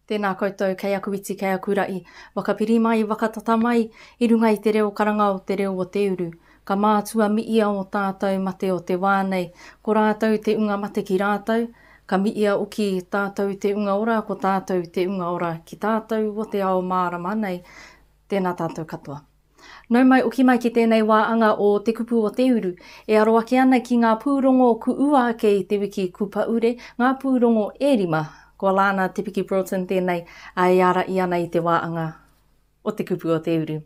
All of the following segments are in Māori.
Tēnā koutou, kei aku iti, kei aku ra'i, waka piri mai, waka tata mai, i runga i te reo karanga o te reo o te uru. Ka mātua mi'ia o tātou mate o te wā nei, ko rātou te unga mate ki rātou, ka mi'ia oki tātou te unga ora ko tātou te unga ora ki tātou o te ao mārama nei, Tēnā tātou katoa. Nau mai oki mai ki tēnei wā anga o Te Kupu o Te Uru, e aro ake ana ki ngā pūrongo kuua ake i te wiki Kupaure, ngā pūrongo e rima. Ko Alana Te Piki Broughton tēnei a e āraia ana i te wā anga o Te Kupu o Te Uru.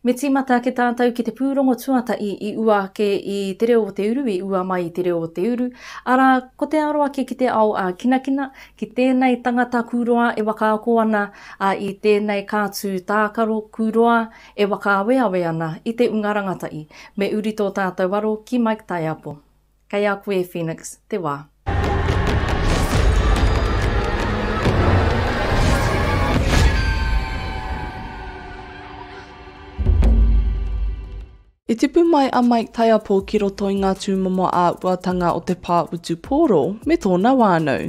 Me tīmata ake tātou ki te pūrongo tuatahi i ua ake i Te Reo o Te Uru, i ua mai i Te Reo o Te Uru, arā, ko te aro ake ki te ao ā-kinakina, ki tēnei tangata kūroa e wakaako ana ā, i tēnei kātū tākaro kūroa e whakaaweawe ana i te unga rangatahi, me uri tō tātou aro ki Mike Taiapo. Kei a koe e Phoenix te wā. I tipu mai a Mike Taiapo ki roto i ngā tūmomo āhuatanga o te pā utu pōro me tōna whānau.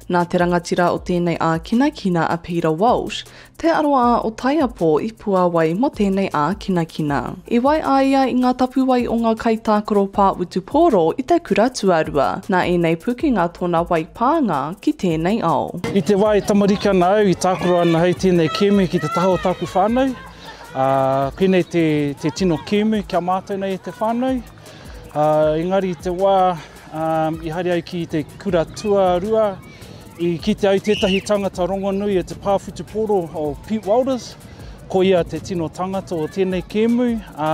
Nā te rangatira o tēnei ākinakina a Peter Walsh, te aroā o Taiapo i puāwai mō tēnei ākinakina. I wai a ia i ngā tapuwae o ngā kaitākaro pā utu pōro i te kura tuarua. Nā ēnei pukenga tōna wai pānga ki tēnei ao. I te wā e tamariki ana au i tākaro ana hei tēnei kēmu ki te taha o tāku whānau. Ā, pēnei te, te tino kēmu ki a mātou nei e te whānau. Ā, engari i te wā ā, i haere au ki te kura tuarua, i kitea ai tētahi tangata rongonui e te pā whutupōro o Pete Welders, ko ia te tino tangata o tēnei kēmu. Ā,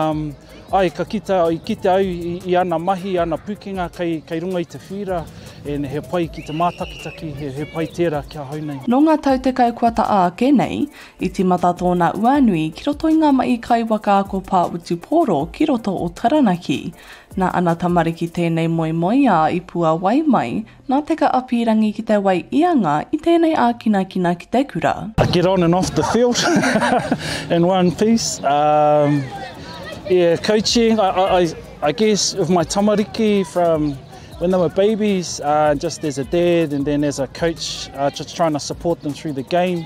ai, ka kita, i kitea au i, i ana mahi, i ana pūkenga kei, kei runga i te whīra, e, he pai ki te mātakitaki, he, he pai tērā ki ahau nei. Nō ngā tau tekau kua taʻa ake nei, I tīmata tōna uanui ki roto i ngā mahi kaiwaka a ko Pāwhutupōro ki roto o Taranaki. Nā ana tamariki tēnei moemoeā i puawai mai, nā Te Kaapīrangi ki te wai i anga i tēnei ākinakina ki te kura. I get on and off the field in one piece, yeah coaching I guess with my tamariki from when they were babies, just as a dad and then as a coach just trying to support them through the game.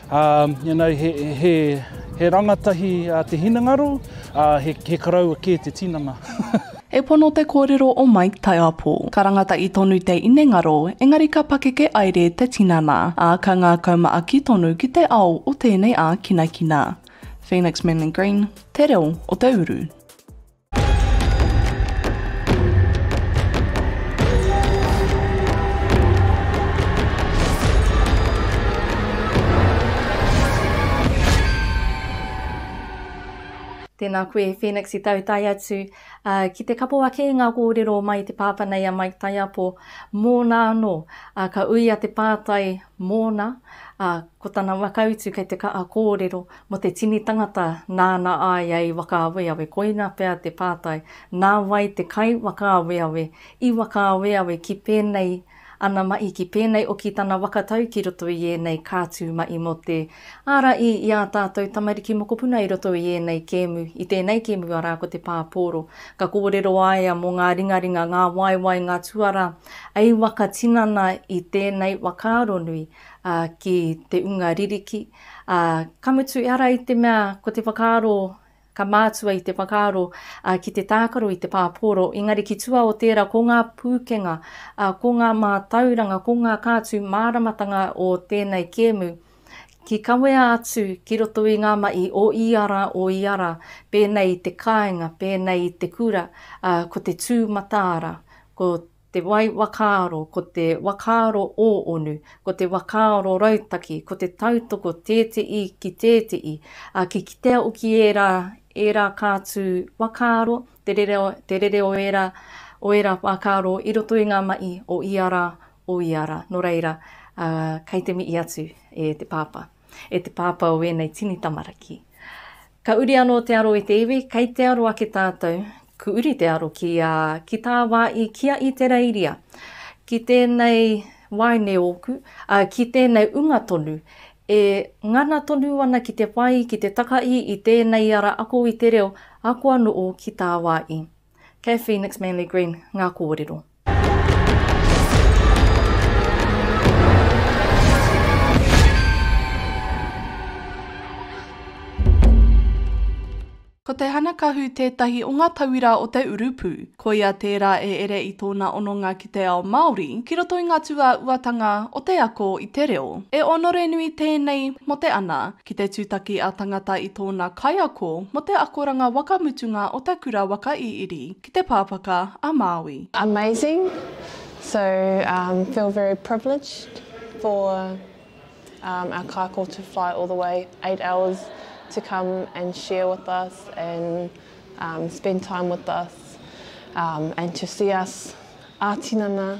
You know, he rangatahi te hinengaro, he karaua kē te tinana. He pono te kōrero o Mike Taiapo. Ka rangatai tonu te inengaro, engari ka pakeke aere te tinana, ā, ka ngākau maaki tonu ki te ao o tēnei ākinakina. Phoenix Manly Green, Te Reo o te Uru. Tēnā koe Phoenix i tautai atu uh, ki te kapo ake i ngā kōrero mai te pāpa nei a Mike Taiapo mōna anō uh, ka uia te pātai mōna uh, Ko tana whakautu kei te kaha kōrero mō te tini tangata nāna a ia i whakaaweawe, koina pea te pātai, nā wai te kai whakaaweawe i whakaaweawe ki pēnei ana mahi, ki pēnei oki tana whakatau ki roto i ēnei kātū mahi mō te ara i i ā tātou tamariki mokopuna i roto i ēnei kēmu, i tēnei kēmu arā ko te pāpōro. Ka kōrero a ia mō ngā ringaringa, ngā waewae, ngā tuarā, hei whakatinana i tēnei whakaaro nui. ā, ki te unga ririki, ā, ka mutu i ara i te mea ko te whakaaro, ka mātua i te whakaaro, ā, ki te tākaro i te pāpōro, engari ki tua o tērā ko ngā pūkenga, ā, ko ngā mātauranga, ko ngā kātū māramatanga o tēnei kēmu, ki kawea atu ki roto i ngā mahi o ia rā, o ia rā, pēnei i te kāinga, pēnei i te kura, ā, ko te tū mataara, ko. te wai wakaaro, ko te wakaaro ōonu, ko te wakaaro rautaki, ko te tautoko tēteī ki tēteī, ā, ki kitea oki ērā, ērā kātū wakaaro, te rere, te rere o ērā, o ērā wakaaro i roto i ngā mahi o ia rā, o ia rā. Nō reira, ā, kei te mihi atu e te pāpā. E te pāpā o ēnei tini tamaraki. Ka uri anō te aro e te iwi, kei te aro ake tātou, ku uri te aro ki a, ki tā wā i kia i te reiria, ki tēnei waeine ōku, ā, ki tēnei unga tonu, e ngana tonu ana ki te whai, ki te takahi i tēnei ara ako i te reo, ako anō ki tā wā i. Kei Phoenix Manly Green ngā kōrero. Ko te hanakahu tētahi o ngā tauira o te urupū. Koia tērā e ere i tōna hononga ki te ao Māori, ki roto i ngā tūāuatanga o te ako i te reo. E onore nui tēnei mō te ana ki te tūtaki a tangata i tōna kaiako mō te akoranga waka mutunga o te kura waka i iri. ki te Pāpaka a Māui. Amazing so um feel very privileged for um our kayako to fly all the way eight hours to come and share with us and um spend time with us um and to see us ā tinana.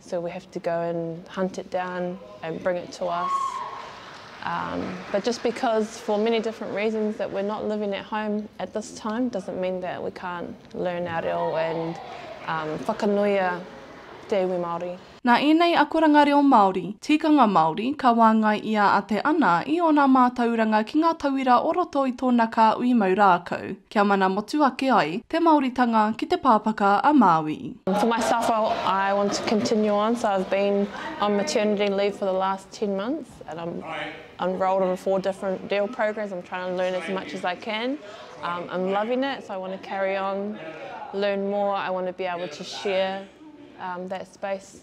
So we have to go and hunt it down and bring it to us um but just because for many different reasons that we're not living at home at this time doesn't mean that we can't learn our reo and um whakanuia te iwi Māori. Nā ēnei akoranga reo Māori, tikanga Māori ka wāngai ia a Te Ana i ōna mātauranga ki ngā tauira o roto i tōna kāhui mau rākau. Kia mana motu ake ai te Maoritanga ki te Pāpaka a Māui. For myself I want to continue on so I've been on maternity leave for the last ten months and I'm enrolled on four different DEAL programs I'm trying to learn as much as I can um, I'm loving it so I want to carry on learn more I want to be able to share um, that space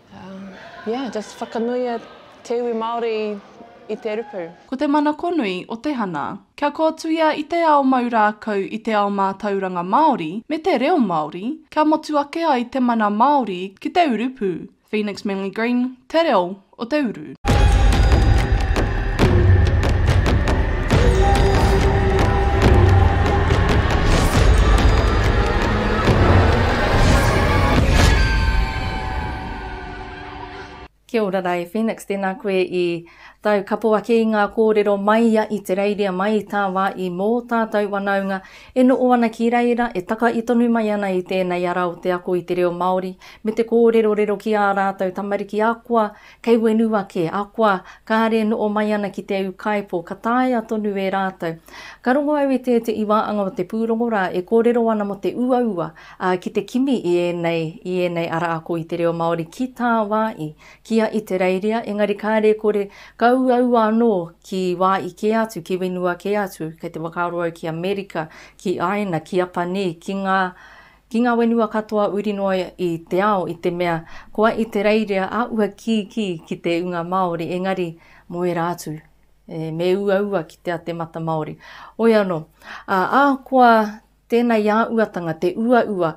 Yeah, just whakanuia te iwi Māori i te rupu. Ko te manakonui o te hana. Kia kōtuia i te ao mau rākau i te ao mātauranga Māori me te reo Māori, kia motu ake ai te mana Māori ki te urupū, Phoenix Manly Green, Te Reo o te Uru. Kia ora rā e Phoenix, tēnā koe i tau kapo ake i ngā kōrero mai ia i te reiria mai i tā wā i mō tātou wanaunga e noo ana ki reira, e takai tonu mai ana i tēnei ara o te ako i te reo Māori me te kōrerorero ki ā rātou tamariki akoa Kei whenua kē, akoa, kāre noo mai ana ki te au kāipo, ka taea tonu e rātou. Ka rongo au i te te iwaanga o te pūrongo rā e kōrero ana mo te uaua, ā, ki te kimi i ēnei, i ēnei ara ako i te reo Māori ki tā wā i kia i te reiria, engari kāre kore ka uaua anō ki wā i kē atu, ki whenua kē atu, kei te whakaaro au ki Amerika, ki Aina, ki Apanī, ki ngā, Ki ngā wenua katoa uri noa i te ao i te mea koa i te reirea a ua kīkī ki te unga Māori engari mo era atu e, me uaua kitea te mata Māori. Oi ano, a ahakoa tena i a uatanga te uaua,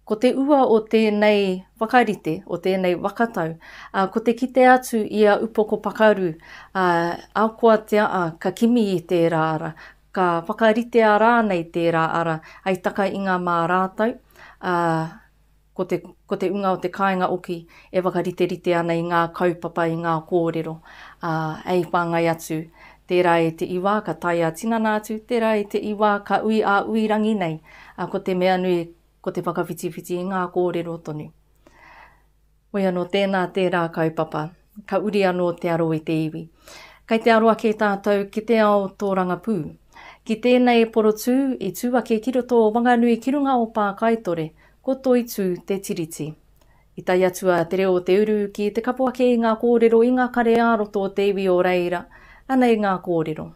ko te ua o tenei whakarite, o tenei wakatau, a ko te kite atu i a Upoko Pakaru, a akoatea a ka kimi i tera ara, Ka whakaritea rānei tērā ara hei taka i ngā mā rātou, ā, ko te, ko te unga o te kāinga oki e whakariterite ana i ngā kaupapa, i ngā kōrero, ā, hei whāngai atu, tērā e te iwa ka tae ā-tinana atu, tērā e te iwa ka ui ā-ui rangi nei, ā, ko te mea nui, ko te whakawhitiwhiti i ngā kōrero tonu. Hoi anō, tēnā, tērā kaupapa. Ka uri anō te aro i te iwi. Kei te aro ake tātou ki te ao tōrangapū. Ki tēnei porotū i tū ake ki roto o Wanganui ki runga o Pākaitore, ko Toitū te Tiriti. I tae atu a Te Reo o Te Uru ki te kapo ake i ngā kōrero i ngā kare ā-roto o te iwi o reira, Anei ngā kōrero.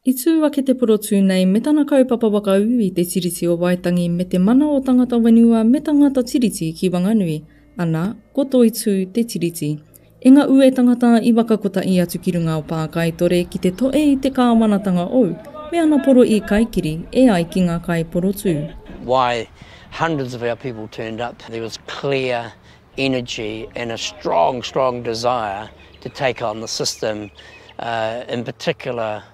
I tū ake te porotū nei me tana kaupapa whakaū i Te Tiriti o Waitangi me te mana o tangata whenua me tangata tiriti ki Wanganui, ana, ko Toitū te tiriti. I nga ue tangata i waka kotahi atu ki runga o Pākaitore ki te toe i te Kāwanatanga ou, me ana poro i kaikiri e ai ki nga kai porotū. why hundreds of our people turned up, there was clear energy and a strong, strong desire to take on the system, in particular,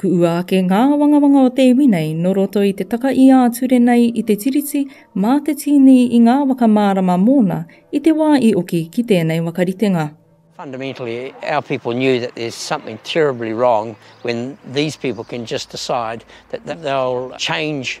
Kuʻua ake ngā awangawanga o te iwi nei nō roto i te taka i ā-ture nei i te Tiriti mā te tīni i ngā waka mārama mōna i te wā i oki ki tēnei wakaritenga. Fundamentally, our people knew that there's something terribly wrong when these people can just decide that they'll change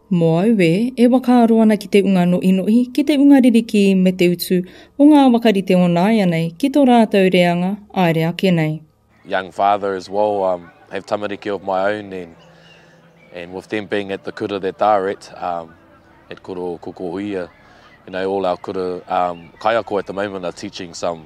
Mō aue, e whakaaro ana ki te unga noʻinoʻi, ki te unga ririkī me te utu o ngā wakarite o nāianei ki tō rātou reanga āere ake nei. young father as well, um, have tamariki of my own and and with them being at the kura that are at um, at Kura o Kokohuia, you know, all our kura um, kaiako at the moment are teaching some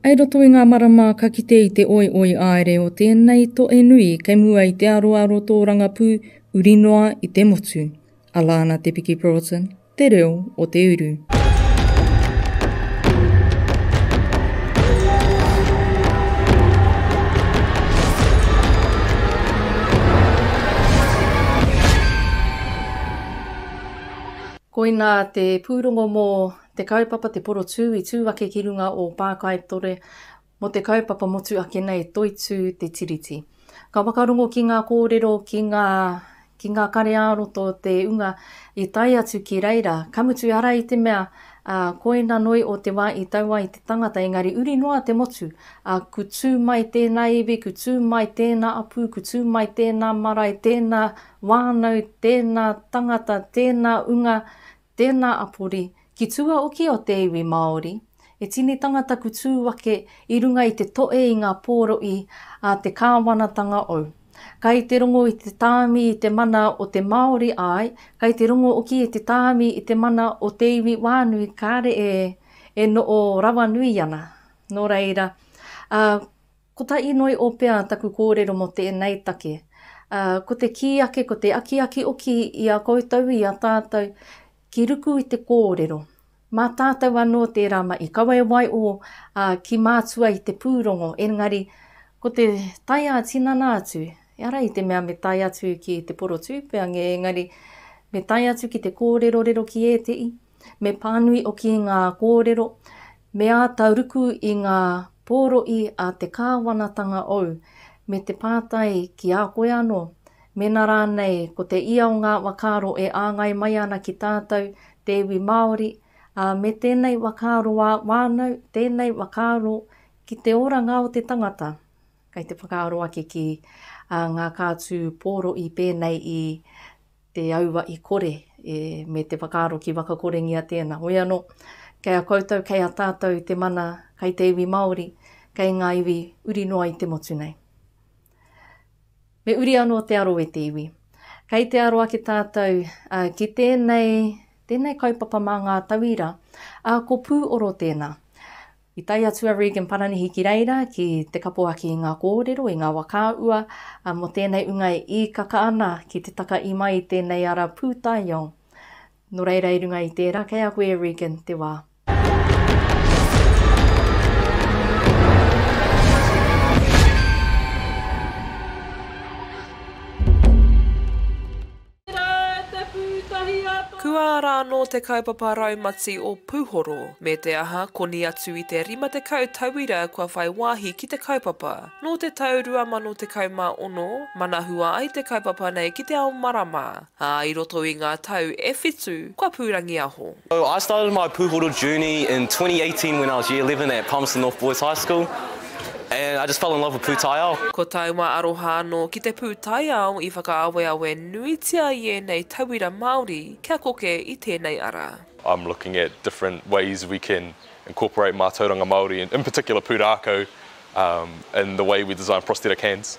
I roto i ngā marama ka kite i te oioi aere o tēnei toe nui kei mua i te aroaro tōrangapū uri noa i te motu, a Lana Te Piki Broughton, Te Reo o te Uru. Koina te pūrongo mō Te kaupapa Te Porotū i tū ake ki runga o Pākaitore mō te kaupapa motu ake nei Toitū te Tiriti. Ka whakarongo ki ngā kōrero ki ngā ki ngā kare-ā-roto te unga i tae atu ki reira, ka mutu ara i te mea ā, koina noi o te wā i tau ai te tangata engari uri noa te motu, ā, ku tū mai tēnā iwi, ku tū mai tēnā apu, ku tū mai tēnā marae, tēnā wānau, tēnā tangata, tēnā unga, Tēnā a Pori, ki tua oki o te iwi Māori, he tinitanga taku tū ake i runga i te toe i ngā pōroʻi a te kāwanatanga ou. Kai te rongo i te tāmi i te mana o te Māori āe, kai te rongo oki i te tāmi i te mana o te iwi wānui kāre e noo rawanui ana. Nō reira, a. Ko tā Inoi o Pea taku kōrero mō tēnei take. Ko te kī ake, ko te akiaki oki i a koutou, i a tātou, ki ruku i te kōrero. Mā tātou anō tērā mai i kawe wai ō, ā, ki mātua i te pūrongo, engari, ko te tae ā-tinana atu, ehara i te mea me tae atu ki te porotūpea, engari, me tae atu ki te kōrerorero ki ētehi, Me pānui oki ngā kōrero, me āta ruku i ngā pōroʻi a te kāwanatanga ou, me te pātai ki a koe anō, mēnā rānei ko te ia o ngā wakaaro e āngai mai ana ki tātou, te iwi Māori, ā, me tēnei wakaaro wānau, tēnei wakaaro ki te oranga o te tangata. Kei te whakaaro ake ki ngā kātū pōroʻi pēnei i. te aua i kore e, me te whakaaro ki wakakorengia tēnā. Hoi anō, kei a koutou, kei a tātou te mana kei te iwi Māori, kei ngā iwi uri noa i te motu nei. Me uri anō te aro e te iwi. Kei te aro ake tātou uh, ki tēnei, tēnei kaupapa mā ngā tauira, uh, ko pū oro tēnā. I tae atu a Regan Paranihi ki reira ki te kapoaki i ngā kōrero, i ngā wa ka ua, ā, mō tēnei ūnga e īkaka ana ki te taka i mai i tēnei ara pūtaiao. Nō reira i runga i tērā, kei a koe e Regan te wā. Tērā te pūtahi a tō. Kua ara anō te kaupapa raumati o Puhoro, me te aha, koni atu i te 50 tauira kua whai wāhi ki te kaupapa. Nō te tau 2016, manahua ai te kaupapa nei ki te ao marama, ā, i roto i ngā tau e whitu, kua pūrangiaho. So I started my pūhoro journey in twenty eighteen when I was year eleven at Palmerston North Boys High School and I just fell in love with pūtaiao. Ko taua aroha anō ki te pūtaiao i whakaaweawe nuitia i ēnei tauira Māori kia koke i tēnei ara. I'm looking at different ways we can incorporate mātauranga Māori in particular pūrākau in the way we design prosthetic hands.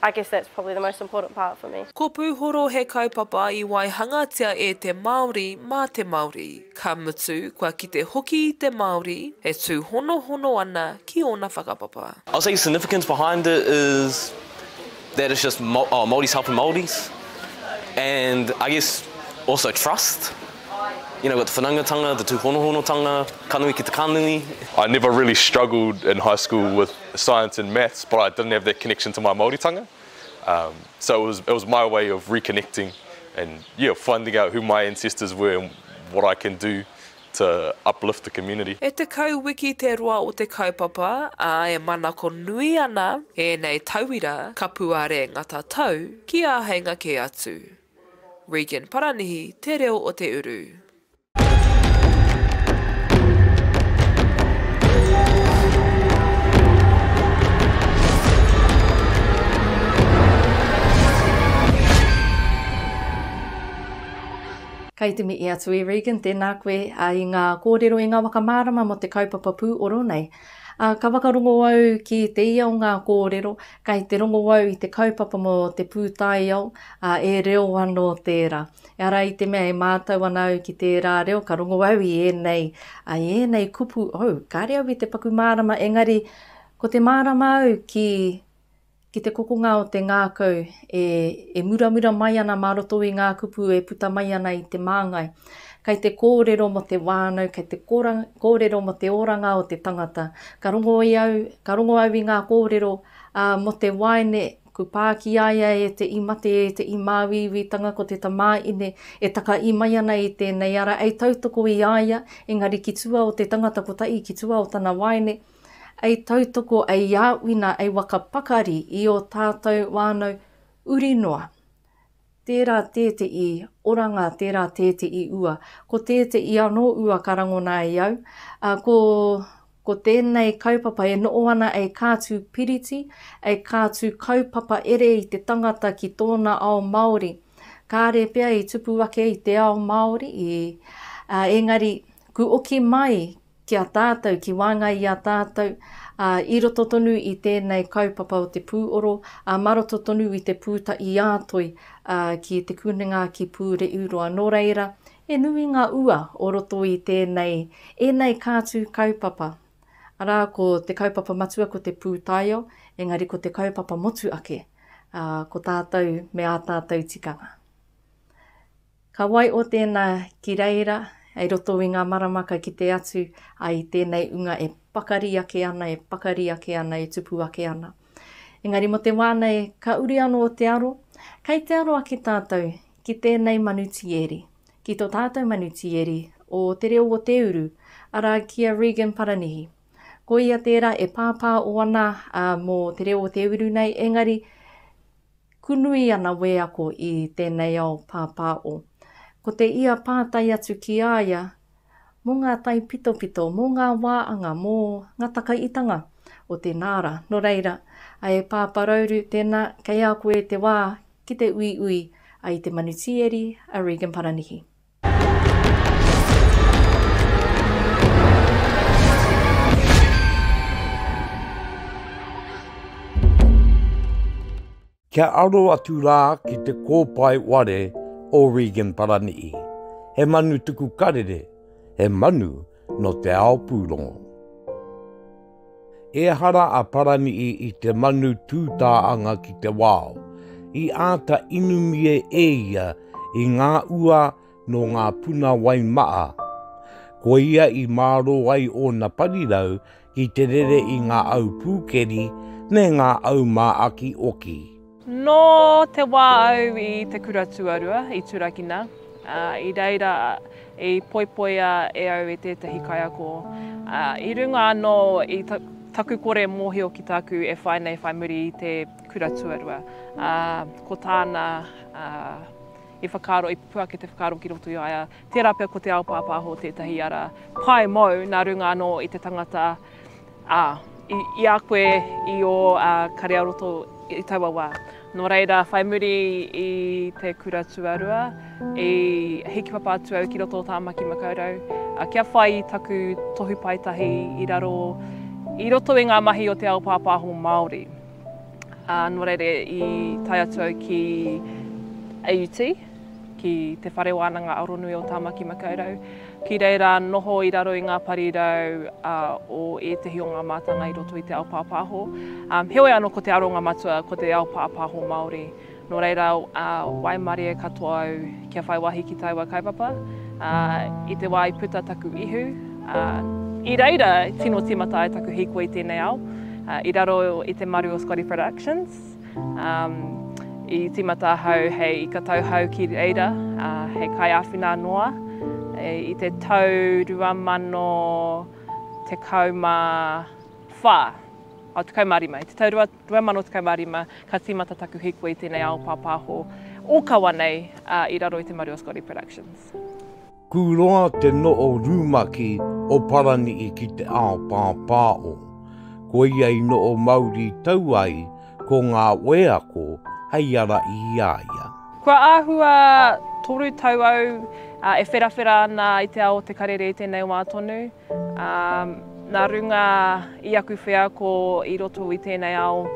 I guess that's probably the most important part for me. Ko Pūhoro he kaupapa i waihangatia e te Māori mā te Māori, ka mutu kua kite hoki te Māori e tūhonohono ana ki ōna whakapapa. I'll say significance behind it is that it's just Māoris helping Māoris and I guess also trust, you know, got the whanaungatanga, the tūhonohonotanga, ka nui ki te ka nui. I never really struggled in high school with science and maths but I didn't have that connection to my Māoritanga um, so it was, it was my way of reconnecting and yeah, finding out who my ancestors were and what I can do to uplift the community. E tekau wiki te roa o te kaupapa, ā, e manako nui ana ēnei tauira kapuare ngata tau ki āheinga kē atu. Regan Paranihi, Te Reo o Te Uru. Kei te mihi atu e Regan, tēnā koe i ngā kōrero, i ngā waka mārama mō te kaupapa pūoro nei. Ka whakarongo au ki te ia o ngā kōrero, kei te rongo au i te kaupapa mō te pūtaiao, e reo anō tērā. Ehara i te mea e mātau ana au ki tērā reo, ka rongo au i ēnei, i ēnei kupu, oh, kāre au i te paku mārama, engari ko te mārama au ki, ki te kokonga o te ngākau e, e muramura mai ana mā roto i ngā kupu e puta mai ana i te māngai. Kei te kōrero mō te wānau, kei te kōrero mō te oranga o te tangata. Ka rongo i au, ka rongo au i ngā kōrero ā, mō te waeine Ko pā ki a ia e te i mate e te i māuiuitanga ko te tamāine e takaī mai ana i tēnei ara ei tautoko i a ia, engari ki tua o te tangata kotahi ki tua o tana waeine ei tautoko ei āwina ei waka pakari i ō tātou wānau uri noa. tērā tēteʻi oranga, tērā tēteʻi ua. Ko tēteʻi anō ua ka rangona i au, ā, ko, ko tēnei kaupapa e noʻo ana e kātū piriti, e kātū kaupapa ere i te tangata ki tōna ao Māori. Kāre pea i tupu ake i te ao Māori, i, ā, engari, ku oki mai ki a tātou, ki wāngai i a tātou, ā, i roto tonu i tēnei kaupapa o te pūoro, ā, mā roto tonu i te pūta i a Toi, ā, ki Te Kunenga, ki Pūreʻiuroa. Nō reira, he nui ngā ua o roto i tēnei, ēnei kātū kaupapa, arā, ko te kaupapa matua ko te pūtaiao, engari ko te kaupapa motu ake, ā, ko tātou me ā tātou tikanga. Ka wai o tēnā ki reira hei roto i ngā marama ka kite atu a i tēnei unga e pakari ake ana, e pakari ake ana, e tupu ake ana. Engari mo te wā nei ka uri anō te aro, kei te aro ake tātou ki tēnei manu tieri, ki to tātou manu tieri o te reo o te uru, arā ki a Regan Paranihi. Ko ia tērā e pāpā o ana mo te reo o te uru nei, engari Kunui ana wēako i tēnei ao pāpāo. Ko te ia pātai atu ki a ia, mō ngā taipitopito, mō ngā wāanga, mō ngā takaitanga o te nāra. Nō reira, e Pāpā Rauru, tēnā, kei a koe te wā ki te uiui, a i te manutīeri, a Regan Paranihi. Kia aro atu rā ki te kōpae ware o Regan Parani'i. He manu tuku karere, he manu nō te ao pūrongo. Ehara a Paranihi i te manu tūtā anga ki te wao, i āta inumie e ia i ngā ua nō ngā puna wai maa, ko ia i mārō ai ōna parirau i te rere i ngā au pūkeri me ngā au māakioki. Nō te wā au i te kura tuarua i turakina, ā, i reira i poipoia e au i tētahi kaiako, ā, i runga anō i taku kore mōhio ki tāku e whai nei whai muri i te kura tuarua, ā, ko tāna, ā, i whakaaro, i pupu ake te whakaaro ki roto i a ia, Tērā pea ko te ao pāpāho tētahi ara pae mou nā runga anō i te tangata, ā, i a koe i ō kare-ā-roto i taua wā. Nō reira, whai muri i te kura tuarua, i hiki papa atu au ki roto o Tāmaki Makaurau kia whai i taku tohu paetahi i raro, i roto i ngā mahi o te ao pāpāho Māori. Nō reira, i tae atu au ki AUT. ki Te Whare Wānanga Aronui o Tāmaki Makaurau. Ki reira noho i raro i ngā parirau uh, o ētahi o ngā mātanga i roto i te ao pāpāho. Um, heoi anō ko te aronga matua, ko te ao pāpāho Māori. Nō reira, uh, waimarie katoa au kia whai wahi ki taua kaupapa. Uh, I te wā i puta taku ihu, uh, i reira tino timata ai taku hīkoi i tēnei ao, uh, i raro i te maru o Scotty Productions. Um, i timata ahau hei ika tauhau ki reira, uh, hei kai awhina noa. E, I te tau rua mano te kauma wha, o te kauma rima, i te tau rua, rua mano te kauma rima, ka timata taku hikua i tēnei ao pāpāho o kawa nei uh, i raro i te maru o Scotty Productions. Kū roa te no'o rūmaki o Parani'i ki te ao pāpāo. Ko ia i no'o mauri tau ai ko ngā wēako hei ara i a ia. Kua āhua toru tau au e wherawhera ana i te ao o te karere i tēnei wā tonu. Nā runga i aku wheako i roto i tēnei ao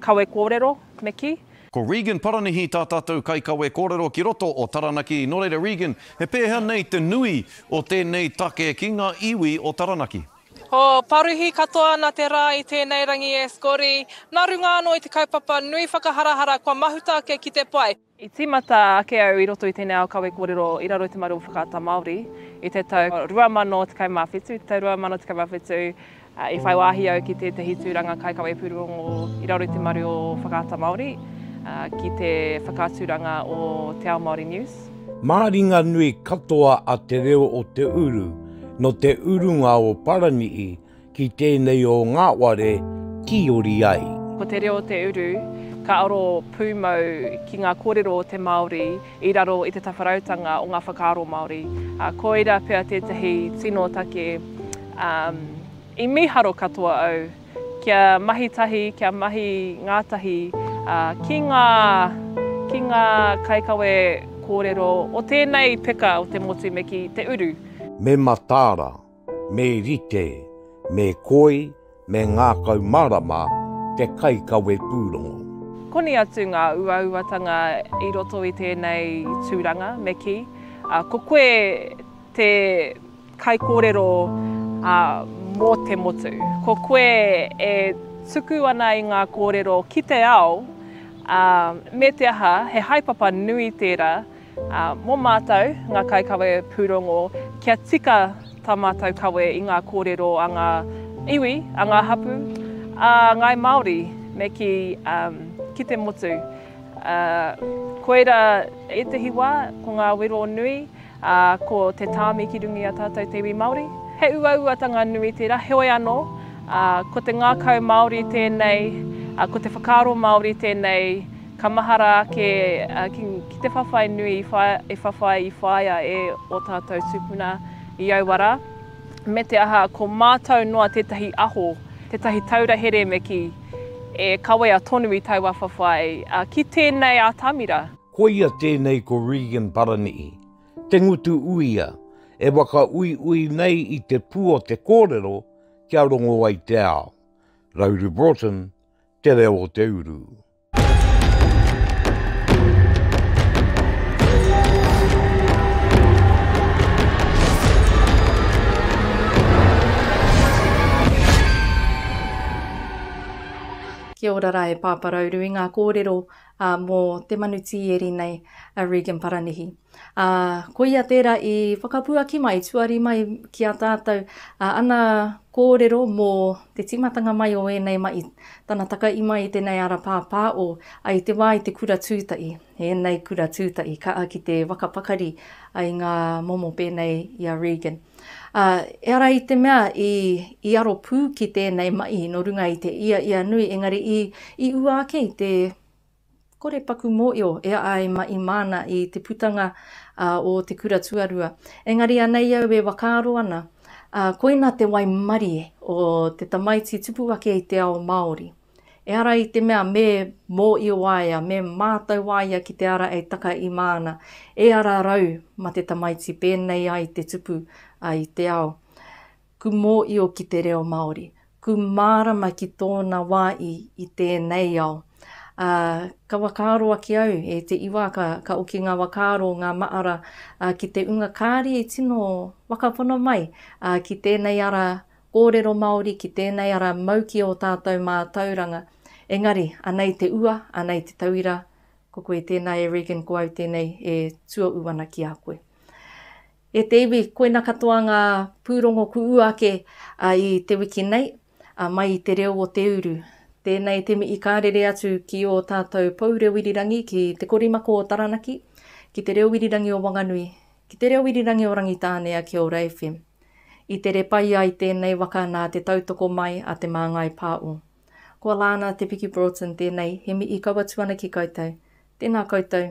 kawe kōrero me kī. Ko Regan Paranihi tā tātou kaikawe kōrero ki roto o Taranaki. Nō reira Regan, he pēhea nei te nui o tēnei take ki ngā iwi o Taranaki? He paruhi katoa ana te rā i tēnei rangi e Scotty, nā runga anō i te kaupapa nui whakaharahara kua mahuta ake ki te pai. I tīmata ake au i roto i tēnei ao kawe kōrero i raro i te maru o Whakaata Māori i te tau 2017, i te tau 2017 I whai wāhi au ki tētahi tūranga kaikawe pūrongo i raro i te maru o Whakaata Māori ki te whakaaturanga o Te Ao Māori News. Māringa nui katoa a Te Reo o Te Uru nō te urunga o Paraniʻi ki tēnei o Ngāware tīori ai. Ko Te Reo o Te Uru ka aro pūmau ki ngā kōrero o te Māori i raro i te tawharautanga o ngā whakaaro Māori, ā, koira pea tētahi tino take, ā, i mīharo katoa au kia mahi tahi, kia mahi ngātahi, ā, ki ngā, ki ngā kaikawe kōrero o tēnei peka o te motu me ki te uru. Me mataara, Me rite, me koi, me ngākau marama te kaikawe pūrongo. Koni atu ngā uauatanga i roto i tēnei tūranga, me kī, ko koe te kaikōrero mō te motu. Ko koe e tuku ana i ngā kōrero ki te ao, me te aha, he haepapa nui tērā, Ā, mō mātou, ngā kaikawe pūrongo, kia tika tā mātou kawe i ngā kōrero a ngā iwi, a ngā hapū, a ngāi Māori, me kī, ā, ki te motu. Ā, koirā ētehi wā, ko ngā wero nui, ā, ko te tāmi ki runga i a tātou te iwi Māori. He uauatanga nui tērā, heoi anō, ā, ko te ngākau Māori tēnei, ā, ko te whakaaro Māori tēnei, Ka mahara ake ki te whawhai nui i whawhai i whaia e o tatou tupuna i aua ra, me te aha ko matou noa tetahi aho, tetahi taura here me ki e kawea tonu i taua whawhai, ki tenei atamira. Koia tenei ko Regan Paranihi, te ngutu uia, e whakauiui nei i te pu o te korero kia rongo ai te ao. Rauru Broughton, Te Reo o te Uru. Kia ora ra e Pāpā Rauru i ngā kōrero mō te manu tīeri nei a Regan Paranihi. Ā, koia tērā i whakapuaki mai, tuari mai ki a tātou, ā, ana kōrero mō te tīmatanga mai o ēnei mahi, tana takaī mai i tēnei ara pāpāo, ai te wā i te kura tūtahi, ēnei kura tūtahi, kaha ki te whakapakari ai ngā momo pēnei i a Regan. Ā, ehara i te mea i, i aro pū ki tēnei mahi nō runga i te ia ia nui, engari i, i ua ake i te. Kore paku mōio e a ai ma i māna i te putanga a o te kura tuarua. Engari anei au e wakaaro ana, a, koina te waimarie o te tamaiti tupu ake i te ao Māori. Ehara i te mea me mōio aia, me mātau aia ki te ara e taka i māna, e ara rau ma te tamaiti pēnei ai te tupu a i te ao. Ku mōio ki te reo Māori, ku mārama ki tōna wā i i tēnei ao. Ā, ka whakaaro ake au, e te iwa, ka, ka oki ngā whakaaro, ngā maara, ā, ki te unga kāri e tino whakapono mai, ā, ki tēnei ara kōrero Māori, ki tēnei ara mau ki ō tātou mātauranga. Engari, anei te ua, anei te tauira, ko koe tēnā e Regan, ko au tēnei e tuohu ana ki a koe. E te iwi, koina katoa ngā pūrongo kuʻu ake i te wiki nei, mai i te reo o te uru. Tēnei te mihi ka rere atu ki ō tātou pou reo irirangi ki Te Korimako o Taranaki, ki Te Reo Irirangi o Wanganui, ki Te Reo Irirangi o Rangitānea ki Ora FM. I tere pai ai tēnei waka nā te tautoko mai a Te Māngai Pāo. Ko Alana Te Piki Broughton tēnei, he mihi kaua atu ana ki koutou. Tēnā koutou.